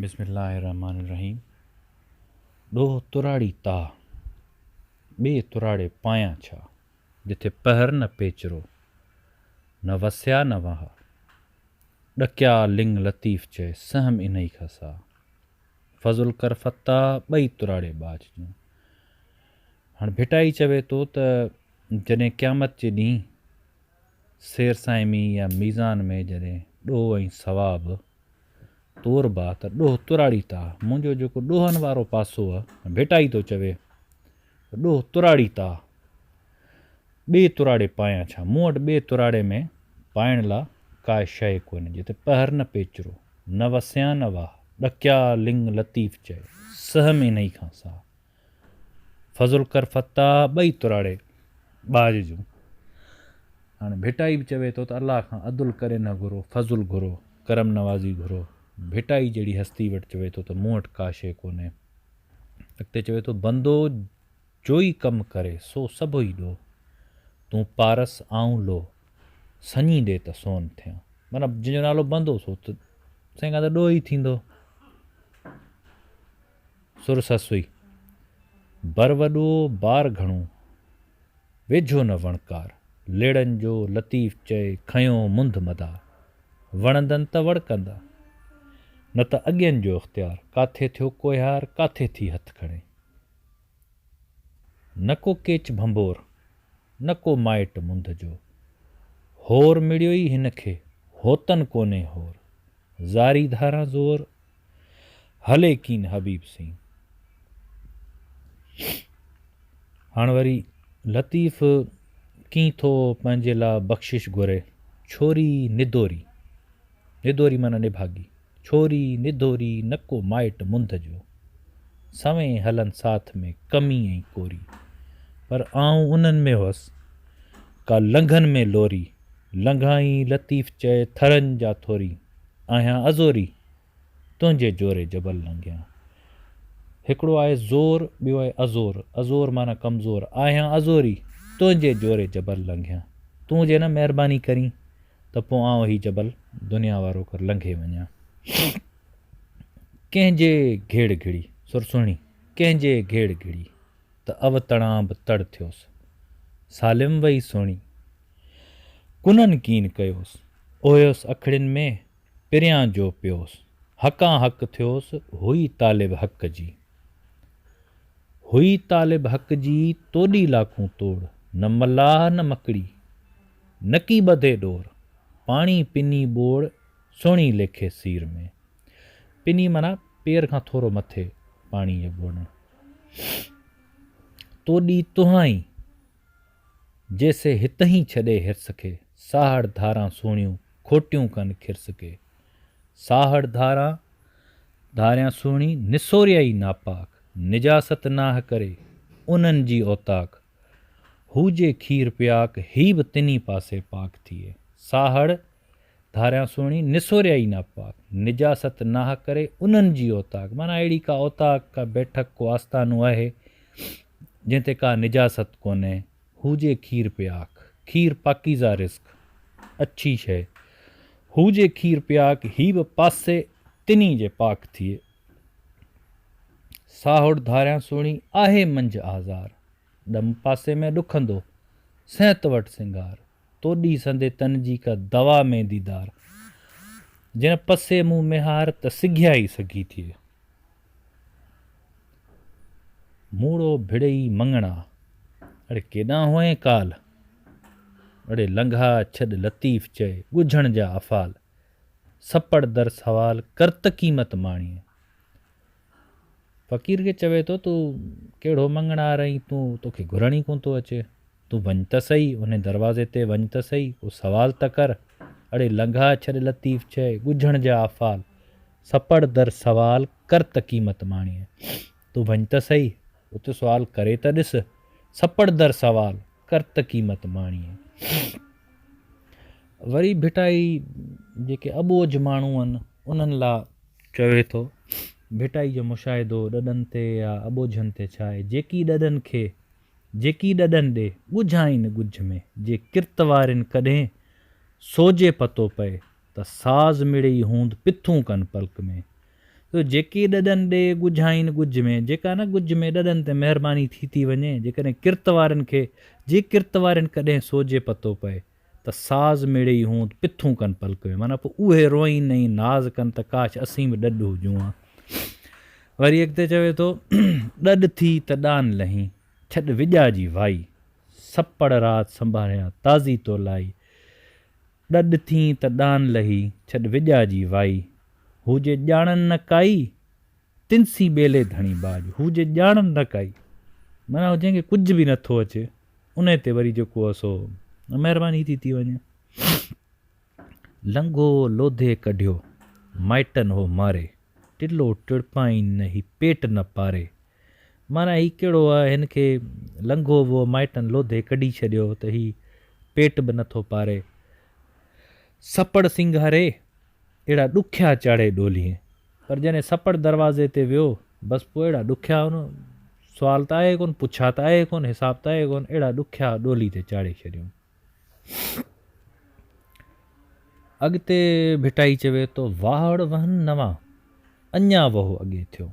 بسم الله الرحمٰن الرحيم ڏوهه تراڙي تاء، ٻي تراڙي پايان ڇا. جتي پهر نه پيچرو، نه وسيا نه وهاء. ڏڪيا لڱ لطيف چئي، سهم انهي کان ساء. فضل ڪر فتاح، ٻئي تراڙي ٻاجهه جون. هاڻ ڀٽائي چوي ٿو ته جڏهن قيامت جي ڏينهن سير صائمي يا ميزان ۾ جڏهن ڏوهه ۽ ثواب، تور باھ ته ڏوھ تراڙي تاء، منهنجو جيڪو ڏوهن وارو پاسو ا، ڀيٽائي ٿو چوي ته ڏوھ تراڙي تاء، ٻئي تراڙي پايان ڇا؟ مون وٽ ٻئي تراڙي ۾ پائڻ لا ڪاء شيء ڪونهي، جتي پهر نه پيچرو، نه وسيان نه واھ، ڏکيا لڱ لطيف چئي، سهم انهيء کان ساء. فضل ڪر فتاح ٻئي تراڙي ٻاجهه جون. هاڻي ڀٽائي به چوي ٿو ته الله کان عدل ڪري نه گهرو، فضل گهرو، ڪرم نوازي گهرو. ڀٽائي جهڙي هستي وٽ چوي ٿو ته مون وٽ ڪا شيء ڪونهي. اڳتي چوي ٿو بندو جوئي ڪم ڪري سو سڀ ئي ڏو. تون پارس آئون لوء، سڃي ڏي ته سون ٿيان. معنيٰ جنهن جو نالو بندو سو ته سائين کان ته ڏوهه ئي ٿيندو. سر سسوئي، بر وڏو بار گهڻو، ويجهو نه وڻڪار، ليڙن جو لطيف چئي کنيو منڌ مدا، وڻندن ته وڙڪندا، نه ته اڳين جو اختيار، ڪاٿي ٿيو ڪوهيار، ڪاٿي ٿي هٿ کڻي. نه ڪو ڪيچ ڀنڀور، نه ڪو مائٽ منڌ جو. هور مڙيو ئي هن کي، هوتن ڪونهي هور. زاري ڌاران زور، هلي ڪين حبيب سين. هاڻ وري لطيف ڪين ٿو پنهنجي لا بخشش گهري. ڇوري ندوري، ندوري معنيٰ نڀاڳي. ڇوري نڌوري نه ڪو مائٽ منڌ جو، سوين هلن ساٿ ۾ ڪمي ۽ ڪوري، پر آئون انهن ۾ هئس ڪا لنگهن ۾ لوري، لنگهائين لطيف چئي ٿرن جا ٿوري، آهيان ازوري، تنهنجي جوري جبل لنگهيان. هڪڙو آهي زور، ٻيو آهي ازور، ازور معنيٰ ڪمزور، آهيان ازوري، تنهنجي جوري جبل لنگهيان. تون جي نه مهرباني ڪرين. ته پوء آئون هي جبل دنيا وارو ڪر لنگهي وڃان. ڪنهن جي گهيڙ گهڙي، سر سهڻي، ڪنهن جي گهيڙ گهڙي ته اوتڻان به تڙ ٿيوس. سالم وئي سهڻي، ڪنن ڪين ڪيوس، اوهيوس اکڙين ۾، پريان جو پيوس، حقان حق ٿيوس، هئي طالب حق جي. هئي طالب حق جي، توڏي لاکون توڙ، نه ملاح نه مڪڙي. نڪي ٻڌي ڏور، پاڻي پني ٻوڙ، سهڻي ليکي سير ۾. پني معنيٰ پير کان ٿورو مٿي پاڻي جو ٻوڙڻ. تو ڏي تهائين، جي سي هتهين ڇڏي هرس کي، ساهڙ ڌاران سهڻيون، کوٽيون ڪن کرس ڪي. ساهڙ ڌاران، ڌاريان سهڻي، نسوريائي ناپاڪ، نجاست ناهه ڪري، انهن جي اوطاق، هو جي کير پياڪ، هي به تنهين پاسي پاڪ ٿئي. ساهڙ، ڌاريان سهڻي، نسوريائي ناپاڪ، نجاست ناحق ڪري، انهن جي اوطاق، معنيٰ اهڙي ڪا اوطاق، ڪا بيٺڪ، ڪو آستانو آهي، جنهن تي ڪا نجاست ڪونهي. هو جي کير پياڪ، کير پاڪيزه رزق، اڇي شيء. هو جي کير پياڪ، هي به پاسي تنهين جي پاڪ ٿئي. ساهوڙ ڌاريان سهڻي آهي منجهه آزار، ڏم پاسي ۾ ڏکندو، صحت وٽ سنگار، تو ڏي سندي تن جي ڪا دوا مين ديدار، جنهن پسي مون ميهار ته سگهيا ئي سگهي ٿئي. موڙو ڀڙئي مڱڻا، اڙي ڪيڏانهن هئين ڪال، اڙي لنگها ڇڏ لطيف چئي، ڳجهڻ جا افعال. سپڙ در سوال ڪرت قيمت ماڻيء. فقير کي چوي ٿو تون ڪهڙو مڱڻهار آهين تون توکي گهرڻ ئي ڪونه ٿو اچي. تون وڃ ته سهي، انهي دروازي تي وڃ ته سهي، ڪو سوال ته ڪر. اڙي لنگها ڇڏ لطيف چئي ڳجهڻ جا آفال، سپڙ در سوال ڪرت قيمت ماڻيء. تون ڀڃ ته سهي، هت سوال ڪري ته ڏس، سپڙ در سوال، ڪر ته قيمت ماڻيء. وري ڀٽائي جيڪي اٻوجهه ماڻهو آهن، انهن لا چوي ٿو، ڀٽائي جو مشاهدو ڏڏن تي يا اٻوجهن تي ڇا آهي، جيڪي ڏڏن کي جيڪي ڏڏن ڏي، ڳجهائين ڳجهه ۾، جي ڪرت وارين ڪڏهين سوجهي پتو پئي، ته ساز مڙئي هوند پٿون ڪن پلڪ ۾. سو جيڪي ڏڏن ڏي ڳجهائين ڳجهه ۾، جيڪا نه ڳجهه ۾، ڏڏن تي مهرباني ٿي ٿي وڃي، جيڪڏهن ڪرت وارين کي، جي ڪرت وارين ڪڏهن سوجهي پتو پئي، ته ساز مڙيئي هوند پٿون ڪن پلڪ ۾، معنيٰ پوء اهي روئين ۽ ناز ڪن ته ڪاش اسين به ڏڏ هجون ها. وري اڳتي چوي ٿو، ڏڏ ٿي ته ڏان لهين، ڇڏ وڄاء جي وائي، سپڙ رات سنڀاريان، تازي تو لائي، ڏڏ ٿين ته ڏان لهي، ڇڏ وڄا جي وائي. هو جي ڄاڻن نه ڪائي، تن سين ٻيلي ڌڻي ٻاڄ. هو جي ڄاڻن نه ڪائي، معنيٰ جنهن کي ڪجهه به نه ٿو اچي، ان تي وري جيڪو سو مهرباني ٿي ٿي وڃي. لنگهو لوڌي ڪڍيو، مائٽن هو ماري. ٽلو ٽڙپائين نه هي پيٽ نه پاري. معنيٰ هي ڪهڙو آ، هن کي لنگهو وو مائٽن لوڌي ڪڍي ڇڏيو ته هي پيٽ به نٿو پاري. سپڙ سينگاري اهڙا ڏکيا چاڙهي ڏولين. پر جڏهن سپڙ دروازي تي ويو، بس پوء اهڙا ڏکيا هن سوال ته آهي ڪونه، پڇا ته آهي ڪونه، حساب ته آهي ڪونه، اهڙا ڏکيا ڏولي تي چاڙهي ڇڏيائون. اڳتي ڀٽائي چوي ٿو واهڙ وهن نوان، اڃا وهو اڳي ٿيو.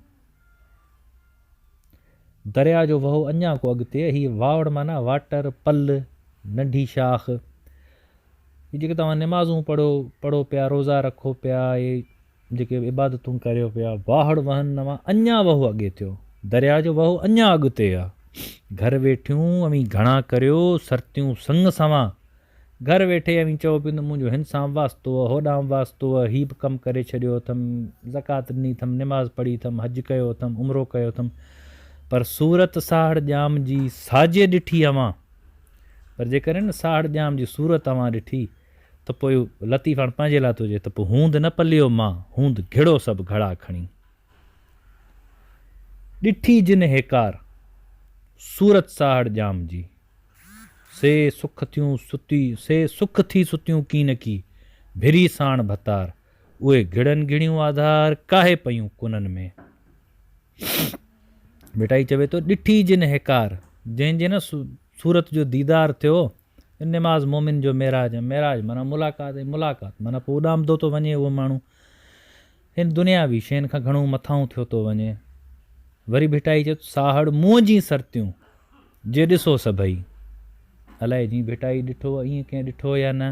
درياء جو وهو اڃا ڪو اڳتي، هي واهڙ معنيٰ واٽر، پل، ننڍي شاخ. هي جيڪي توهان نمازون پڙهو، پڙهو پيا، روزا رکو پيا، اهي جيڪي عبادتون ڪريو پيا، واهڙ وهن اوهان اڃا وهو اڳي ٿيو، درياء جو وهو اڃا اڳتي آ، گهر ويٺيون اوهين گهڻا ڪريو، سرتيون سڱ سوان، گهر ويٺي اوهين چئو پيون ته منهنجو هن سان واسطو آ، هوڏانهن واسطو آ، هي به ڪم ڪري ڇڏيو اٿم، زڪوات ڏني اٿم، نماز پڙهي اٿم، حج ڪيو اٿم، عمرو ڪيو اٿم، پر صورت ساهڙ ڄام جي ساڄي ڏٺي اوهان، پر جيڪڏهن ساهڙ ڄام جي صورت اوهان ڏٺي، ته پوء لطيف هاڻ پنهنجي لاء ٿو چئي ته پوء هوند نه پليو مان، هوند گهڙو سڀ گهڙا کڻي. ڏٺي جن هيڪار، صورت ساهڙ ڄام جي. سي سک ٿيون ستي، سي سک ٿي ستيون ڪي نه ڪي، ڀري ساڻ ڀتار، اهي گهڙن گهڙيون آڌار، ڪاهي پيون ڪنن ۾. ڀٽائي چوي ٿو، ڏٺي جن هيڪار، جنهن جي نه صورت جو ديدار ٿيو، ان نماز مومن جو معراج ۽ معراج معنيٰ ملاقات ۽ ملاقات معنيٰ پوء اڏامندو ٿو وڃي اهو ماڻهو هن دنياوي شين کان گهڻو مٿاهون ٿيو ٿو وڃي. وري ڀٽائي چيو ته ساهڙ منهن جي سرتيون جي ڏسو سڀئي. الائي جي ڀٽائي ڏٺو ائين ڪنهن ڏٺو يا نه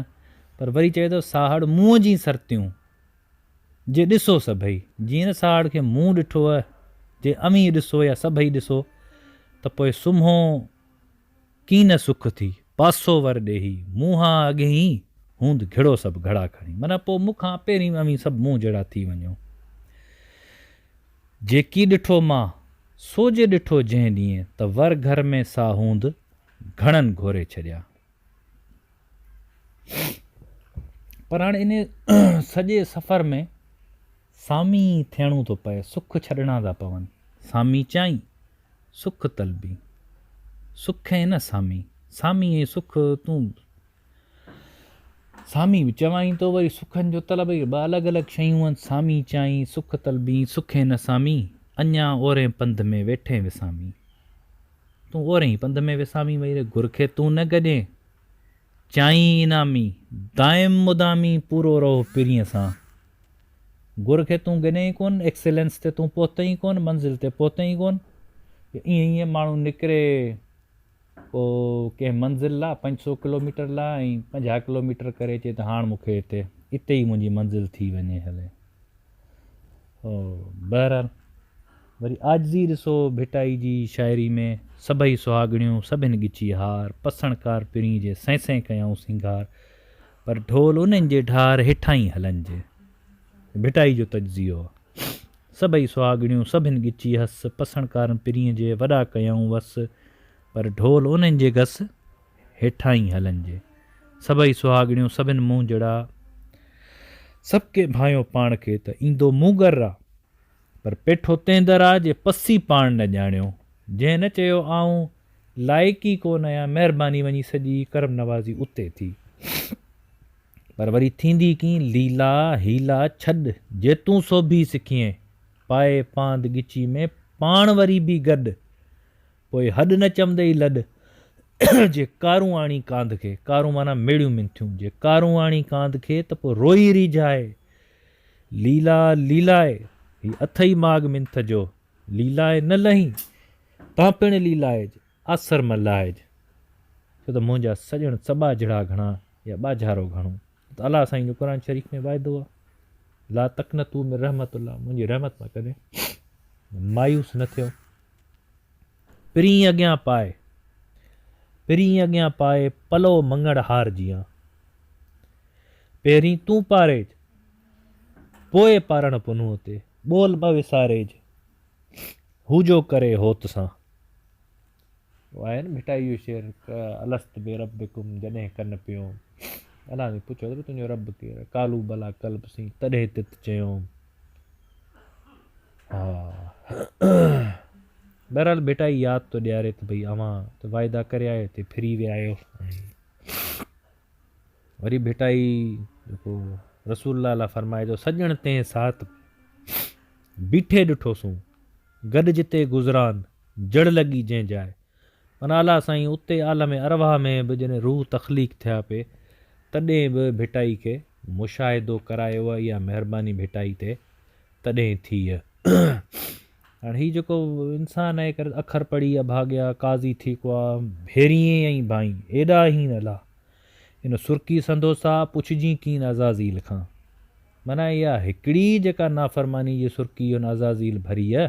پر وري چوي ٿو ساهڙ منهن جي سرتيون جي ڏسو سڀئي. جيئن نه ساهڙ کي منهن ڏٺو جي اوهين ڏسو يا سڀئي ڏسو ته پوء سمهو ڪين نه سک ٿي، پاسو ور ڏيهي، مون هان اڳهين هوند گهڙو سڀ گهڙا کڻي. معنيٰ پوء مون کان پهرين اوهين سڀ مون جهڙا ٿي وڃو. جيڪي ڏٺو مان، سو جي ڏٺو جنهن ڏينهن ته ور گهر ۾ سا هوند گهڻن گهوري ڇڏيا. پر هاڻي انهيء سڄي سفر ۾ سامي ٿيڻو ٿو پئي، سک ڇڏڻا ٿا پون. سامي چيائين، سک طلبي سک اين سامي، سامي اي سک تون سامي به چوائين ٿو وري سکن جو طلب اهي ٻه الڳ الڳ شيون آهن سامي چيائين سک طلبي سک اين سامي اڃا اورين پنڌ ۾ ويٺين وسامي تون اورين ئي پنڌ ۾ وسامي وئي ري گر کي تون نه گڏين چيائين انعامي دائم مدامي پورو رهو پرينء سان گر کي تون ڳنئين ئي ڪون، ايڪسيلنس تي تون پهتئين ئي ڪون، منزل تي پهتئين ئي ڪون. ائين ائين ماڻهو نڪري پوء ڪنهن منزل لا پنج سؤ ڪلوميٽر لا ۽ پنجاهه ڪلوميٽر ڪري چئي ته هاڻ مون کي هتي اتي ئي منهنجي منزل ٿي وڃي هلي. بهرحال وري عاجزي ڏسو ڀٽائي جي شاعري ۾ سڀئي سهاڳڻيون سڀن ڳچي هار، پسڻڪار پرين جي سين سين ڪيائون سينگار، پر ڍول انهن جي ڍار هيٺاهين هلنج ڀٽائي جو تجزيو سڀئي سهاڳڻيون سڀن ڳچي هس پسڻڪارن پرينء جي وڏا ڪيائون وس پر ڍول انهن جي گس هيٺاهين هلنج سڀئي سهاڳڻيون سڀن منهنجڙا سڀڪي ڀانيو پاڻ کي ته ايندو مون ڳر آ پر پيٺو تنهن در آ جي پسي پاڻ نه ڄاڻيو جنهن نه چيو آئون لائق ئي ڪو نه آهيان مهرباني وڃي سڄي ڪرم نوازي اتي ٿي پر وري ٿيندي ڪين ليلا هيلا ڇڏ جي تون سوڀي سکيين پائي پاند ڳچي ۾ پاڻ وري بي گڏ پوء هڏ نه چمندي ئي لڏ جي ڪارون آڻي ڪاند کي ڪارون معنيٰ ميڙيون منٿيون جي ڪارون آڻي ڪاند کي ته پوء روئي ريجهائي ليلا ليلاء هي اٿئي ماڳ منٿ جو، ليلاء نه لهين تان پڻ ليلائج، آسر م لاهج، ڇو ته منهنجا سڄڻ سٻاجهڙا گهڻا يا ٻاجهارو گهڻو، ڇو ته الله سائين جو قرآن شريف ۾ واعدو آهي، لا تقنطوا من رحمت الله منهنجي رحمت مان ڪڏهن مايوس نه ٿيو. پرينء اڳيان پائي، پرينء اڳيان پائي پلئو مڱڻ هار جيان. پهرين تون پاريج، پوء پارڻ پنهون تي. ٻول ٻه وساريج، هو جو ڪري هوت سان. اهو آهي نه ڀٽائي جو شعر الست بربڪم جڏهن ڪن پيوم. الله سين پڇيو ته تنهنجو رب ڪير آهي؟ قالو بلا قلب سين تڏهن تت چيوم. بهرحال ڀٽائي ياد ٿو ڏياري ته ڀئي اوهان ته واعدا ڪري آيو اتي ڦري ويا آهيو وري ڀٽائي جيڪو رسول الله لاء فرمائي جو سڄڻ تنهن ساعت بيٺي ڏٺوسون گڏ جتي گذران جڙ لڳي جنهن جاء من اعليٰ سائين اتي عالم ارواح ۾ به جڏهن روح تخليق ٿيا پي تڏهن به ڀٽائي کي مشاهدو ڪرايو هئه اها مهرباني ڀٽائي تي تڏهن ٿي هئه هاڻ هي جيڪو انسان اهي ڪري اکر پڙهي اڀاڳيا قاضي ٿي ڪوا ڀيريين ۽ ڀائين ايڏا هين الا ان سرڪي سندوسا پڇجين ڪين عزازيل کان معنيٰ اها هڪڙي جيڪا نافرماني جي سرڪي ان عزازيل ڀري هئه